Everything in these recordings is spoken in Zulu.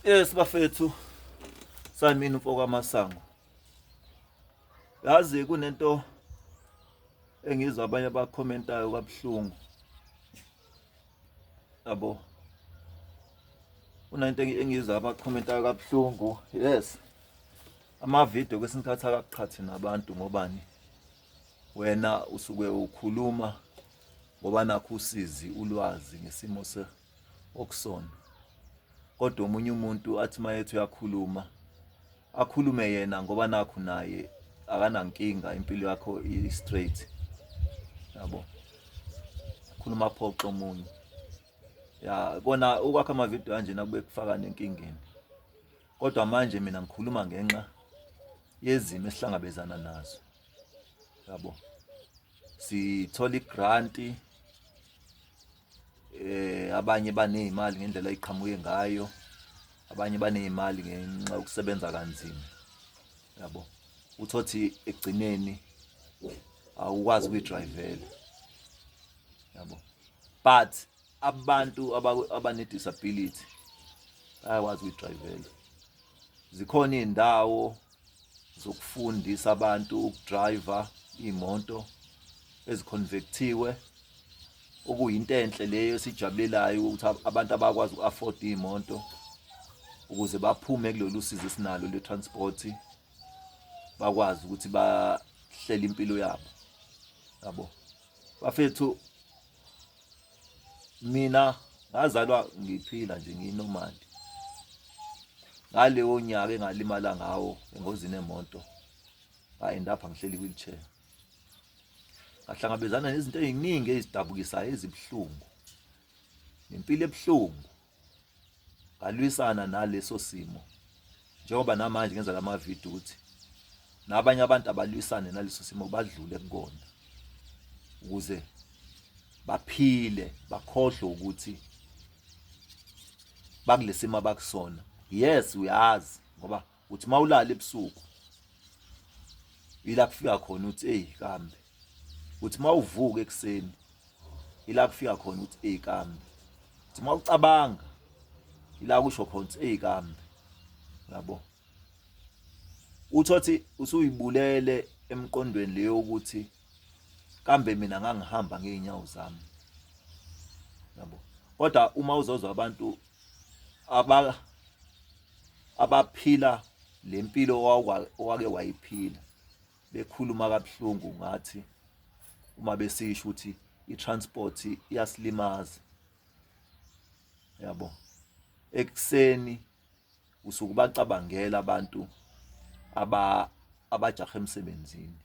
Yes bafethu samini mfoko amasango yazi kunento engizwa abanye abakhomentayo kabuhlungu yabo kunento engizwa abakhomentayo kabuhlungu yes ama-video kwesinye isikhathi akaqhathi nabantu ngobani wena usuke ukhuluma ngoba nakho usizi ulwazi ngesimo se okusona kodwa omunye umuntu athi mayethu uyakhuluma akhulume yena ngoba nakho naye akanankinga impilo yakho i straight yabo khuluma phoxo omunye ya kona ukwakha ama video kanjena kube kufaka nenkingeni Kodwa manje mina ngikhuluma ngenxa yezimo esihlangabezana nazo. Yabo. Sithola igrant eh abanye banezimali ngendlela eqhamuke ngayo. Abanye banezimali ngenxa yokusebenza kanzima. Yabo. Uthothi ekugcineni awukwazi ukuyidrivela. Yabo. But abantu abanedisability bayakwazi ukuyidrayivela zikhona iy'ndawo zokufundisa abantu ukudrayiva iy'moto eziconvectiwe okuyinto enhle leyo esijabulelayo ukuthi abantu abakwazi uku-afford iy'moto ukuze baphume kulolu sizo esinalo lwe-transport bakwazi ukuthi bahlele impilo yabo yabo bafethu mina ngazalwa ngiphila nje ngiyinormal ngaleyo nyaka engalimala ngawo engozini emoto ngaenda apha ngihleli wheelchair ngahlangabezana nezinto eziningi ezidabukisayo ezibuhlungu nempilo ebuhlungu ngalwisana naleso simo njengoba namanje ngenza lama video ukuthi nabanye abantu abalwisane naleso simo badlule kukona ukuze baphile bakhohlwe ukuthi bakulesimo abakusona yes uyazi ngoba uthi mawulala ebusuku ila kufika khona uthi hey kambe uthi mawuvuka ekseni ila kufika khona uthi hey kambe uthi mawucabanga ila kusho khona uthi hey kambe yabo uthothi usuyibulele emqondweni leyo ukuthi kambe mina ngangihamba ngeenyawo zami yabo kodwa uma uzozwa abantu aba abaphila lempilo owake wayiphila bekhuluma kabuhlungu ngathi uma besisho ukuthi i-transport iyasilimaza yabo ekuseni usuke ubacabangela abantu aba abajaha emsebenzini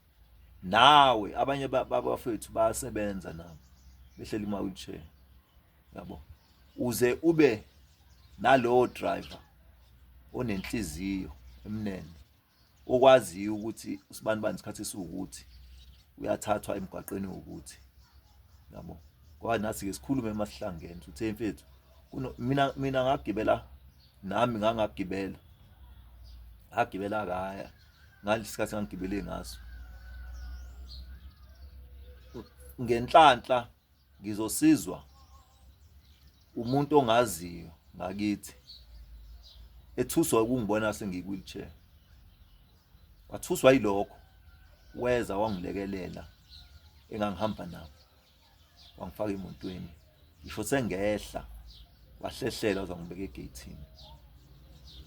nawe abanye babafethu bayasebenza nabo behleli kuma wheelchair yabo uze ube nalowo driver onenhliziyo emnene okwaziyo ukuthi usibanibani isikhathi esiwukuthi uyathathwa emgwaqeni wokuthi yabo ngoba nathi ke sikhulume uma sihlangene uthe mfethu mina mina ngagibela nami ngangagibela ngagibela kaya ngalesikhathi ngangigibele ngaso ngenhlanhla ngizosizwa umuntu ongaziyo ngakithi ethuswa ukungibona sengikwi-wheelchair wathuswa yilokho weza wangilekelela engangihamba nabo wangifaka emotweni ngisho sengehla wahlehlela uzangibeka egeyithini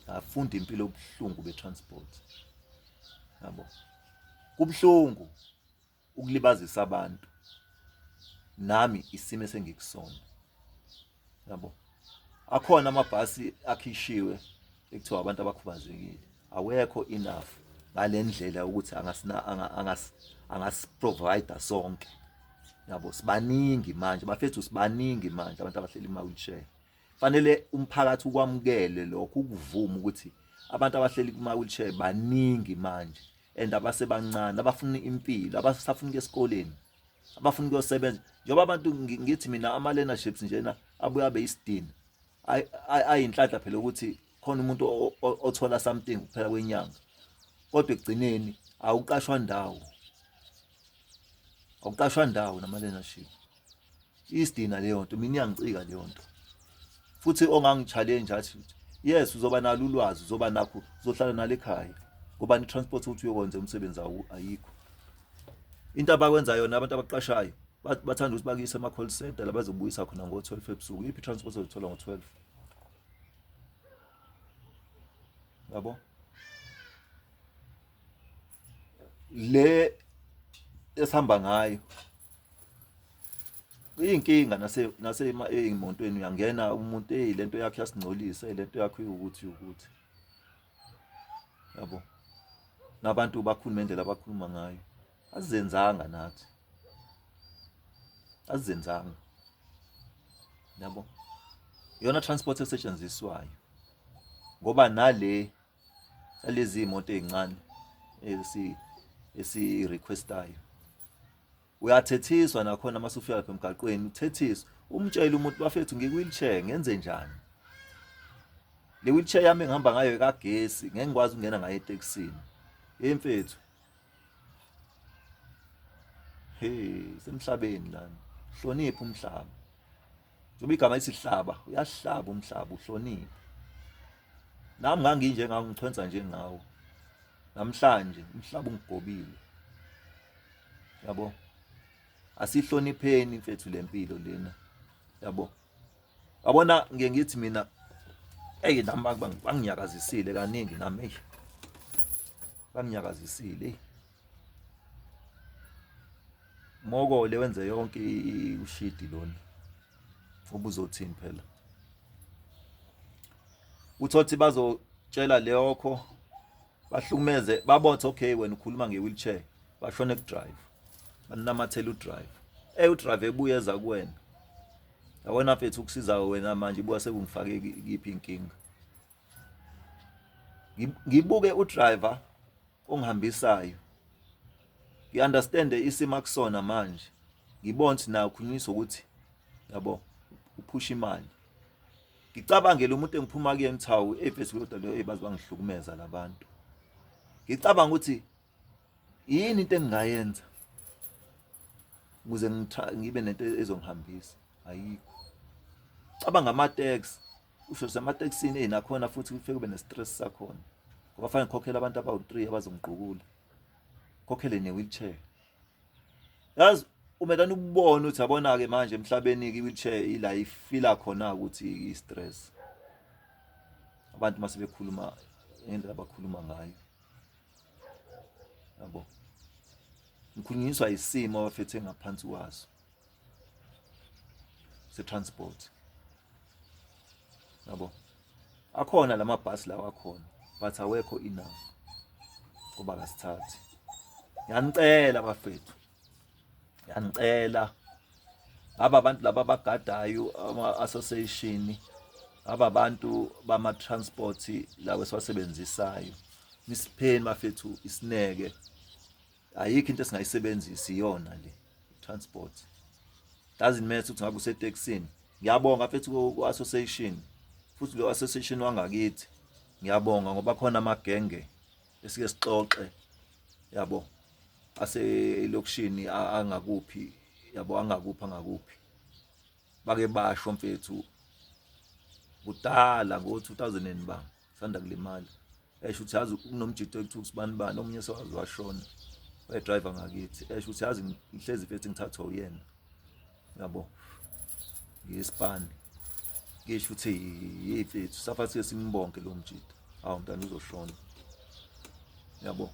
ngafunda impilo obuhlungu be-transport yabo kubuhlungu ukulibazisa abantu nami isimo esengikusona yabo akhona amabhasi akhishiwe ekuthiwa abantu abakhubazekile awekho enough ngalendlela ukuthi angasina angas angasiprovide sonke yabo sibaningi manje bafethu sibaningi manje abantu abahleli ema wheelchair Fanele umphakathi ukwamukele lokho ukuvuma ukuthi abantu abahleli kuma wheelchair baningi manje and abasebancane abafuna impilo abasafuna ukuya esikoleni abafuna ukuyosebenza njengoba abantu ngithi mina ama learnerships njena abuya beyisidini ayinhlanhla phela ukuthi khona umuntu othola something kuphela kwenyanga kodwa ekugcineni awuqashwa ndawo awuqashwa ndawo nama learnership isidina leyo nto mina iyangicika leyo nto futhi ongangi-challenge athi yes uzoba nalo ulwazi uzoba nakho uzohlala nalo ekhaya ngoba ni-transport ukuthi uyokwenza umsebenzi ayikho into abakwenza yona abantu abaqashayo bathanda ukuthi bakuyise ama-call center labazobuyisa khona ngo-twelve ebusuku iphi i-transport ozothola ngo-twelve yabo le esihamba ngayo kuyinkinga nase nase emontweni uyangena umuntu hey lento yakhe yasingcolisa lento yakhe ukuthi ukuthi yabo nabantu bakhuluma indlela abakhuluma ngayo azenzanga nathi azenzanga yabo yona transport esetshenziswayo ngoba nale lezi imoto ezincane esi esi requestayo uyathethiswa nakhona uma sufika lapha emgaqweni uthethiswa umtshela umuntu bafethu ngikuyilchair ngenze njani le wheelchair yami engihamba ngayo ekagesi ngeke ngikwazi ukungena ngayo etekisini hey mfethu hey semhlabeni lana hlonipha umhlaba Njengoba igama isihlaba, uyahlaba umhlaba uhloniphe. Nami nganginje ngawo ngichwenza njengawo. Namhlanje umhlaba ungigobile. Yabo? Asihlonipheni mfethu lempilo lena. Yabo? Yabona ngiye ngithi mina Ey nami banginyakazisile kaningi nami. Banginyakazisile. Mokole wenze yonke ushidi lona ubuzothini phela uthothi bazotshela leyokho bahlukumeze babothe okay wena ukhuluma nge-wheelchair bashone kudrive banamathela udrive ey udrive ebuye eza kuwena awena mfethu ukusiza wena manje ibuka sekungifake kiphi inkinga ngibuke udriver ongihambisayo ngi understand isimo akusona manje ngibona ukuthi nayo khulunyiswa ukuthi yabo uphusha imali ngicabangele umuntu engiphuma kuyena thawu efesi kodwa leyo ebazi bangihlukumeza labantu ngicabanga ukuthi yini into engingayenza ukuze ngibe nento ezongihambisa ayikho cabanga ama tax usho sematekisini eyi nakhona futhi kufike kube ne-stress sakhona ngoba fanele ngikhokhele abantu abawu-three abazongigqukula khokhele ne-wheelchair yazi umelana ukubona ukuthi abona-ke manje emhlabeni-ke i-wheelchair ila ifila khona-ke ukuthi i-stress abantu uma sebekhuluma ngendlela abakhuluma ngayo yabo ngikhulunyiswa isimo abafethe ngaphansi kwaso se-transport yabo akhona la mabhasi lawa akhona but awekho enough kuba kasithathi yanicela bafethu yanicela aba bantu laba abagadayo ama-association aba bantu bama-transport lawo esiwasebenzisayo nisipheni bafethu isineke ayikho into esingayisebenzisi iyona le transport doesn't matter ukuthi ngabe useteksini ngiyabonga mfethu ku-association futhi lo association wangakithi ngiyabonga ngoba khona amagenge esike sixoxe yabo aselokishini angakuphi yabo angakuphi angakuphi bake basho mfethu kudala ngo-2000 ba sanda kulimala esho ukuthi yazi kunomjito ekuthiwa usibani bani omunye sewazi washona wayedriver ngakithi esho ukuthi yazi ngihlezi fethi ngithathwa uyena yabo ngisipani ngisho ukuthi yeyi fethu safathi simbonke lo mjito awu mntana uzoshona yabo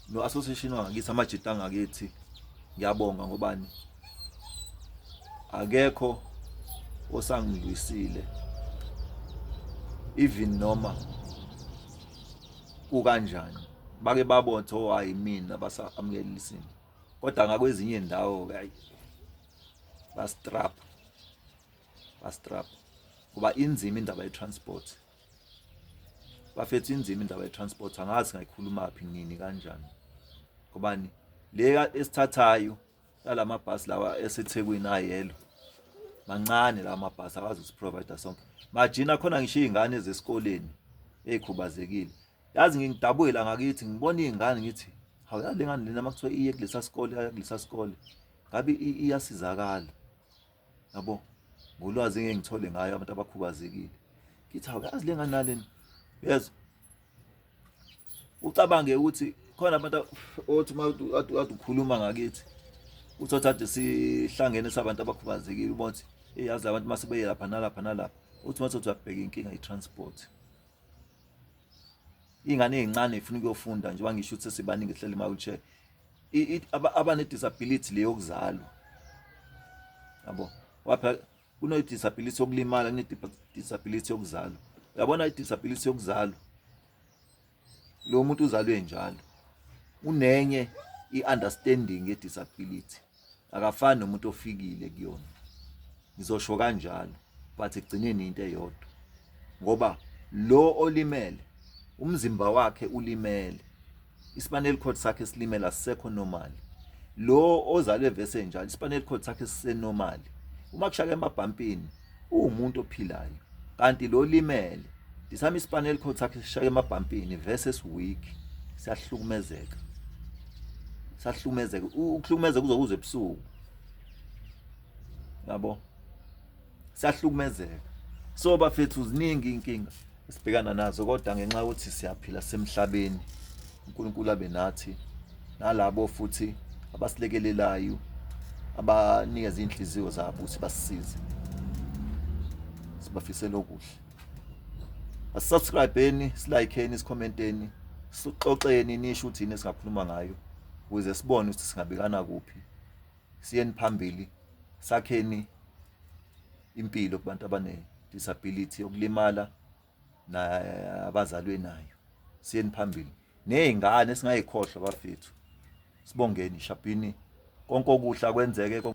no association wangakithi amajita angakithi ngiyabonga ngobani akekho osangilwisile even noma kukanjani bake babothe oh hayi mina basamukelisini kodwa ngakwezinye indawo hayi bastrap bastrap kuba inzima indaba ye transport bafethu inzima indaba ye-transport angazi ngayikhulumaphi nini kanjani ngobani le esithathayo yala mabhasi lawa esethekwini ayelo mancane lawa mabhasi akwazi usiprovider sonke majina khona ngisho iy'ngane zesikoleni ey'khubazekile yazi ngingidabukela ngakithi ngibona iy'ngane ngithi hawu yale ngane lena makuthiwa iye kulesa sikole yakulesa sikole ngabe iyasizakala yabo ngolwazi engeke ngithole ngayo abantu abakhubazekile ngithi awuyazi le ngane nalena yezwa ucabange ukuthi khona abantu othi uma ade ukhuluma ngakithi uthi othi ade sihlangene sabantu abakhubazekile ubona ukuthi eyazi labantu uma sebeye lapha nalapha nalapha uthi uma sothi uyabheka inkinga i-transport ingane ezincane ifuna ukuyofunda njengoba ngisho ukuthi sesibaningi ehleli ma-wheelchair abane disability leyo kuzalwa yabo wapha kuno disability yokulimala kune disability yokuzalwa uyabona i disability yokuzalwa lo muntu uzalwe njalo unenye i understanding ye disability akafani nomuntu ofikile kuyona ngizosho kanjalo but ekugcineni into eyodwa ngoba lo olimele umzimba wakhe ulimele ispinal cord sakhe silimela sisekho normal lo ozalwe vese njalo ispinal cord sakhe sisenormal uma kushaka emabhampini uwumuntu ophilayo kanti lo limele disami spinal cord sakhe sishaya emabhampini versus weak siyahlukumezeka sahlukumezeka ukuhlukumezeka kuzokuza ebusuku yabo sahlukumezeka so bafethu ziningi inkinga esibhekana nazo kodwa ngenxa yokuthi siyaphila semhlabeni uNkulunkulu abe nathi nalabo futhi abasilekelelayo abanikeza inhliziyo zabo ukuthi basisize sibafisela okuhle asubscribeni silayikheni sikhomenteni sixoxeni nisho ukuthi yini esingakhuluma ngayo ukuze sibone ukuthi singabekana kuphi siyeni phambili sakheni impilo kubantu abane-disability yokulimala nabazalwe nayo siyeni phambili ney'ngane singayikhohlwa bafethu sibongeni shabhini konke okuhle kwenzeke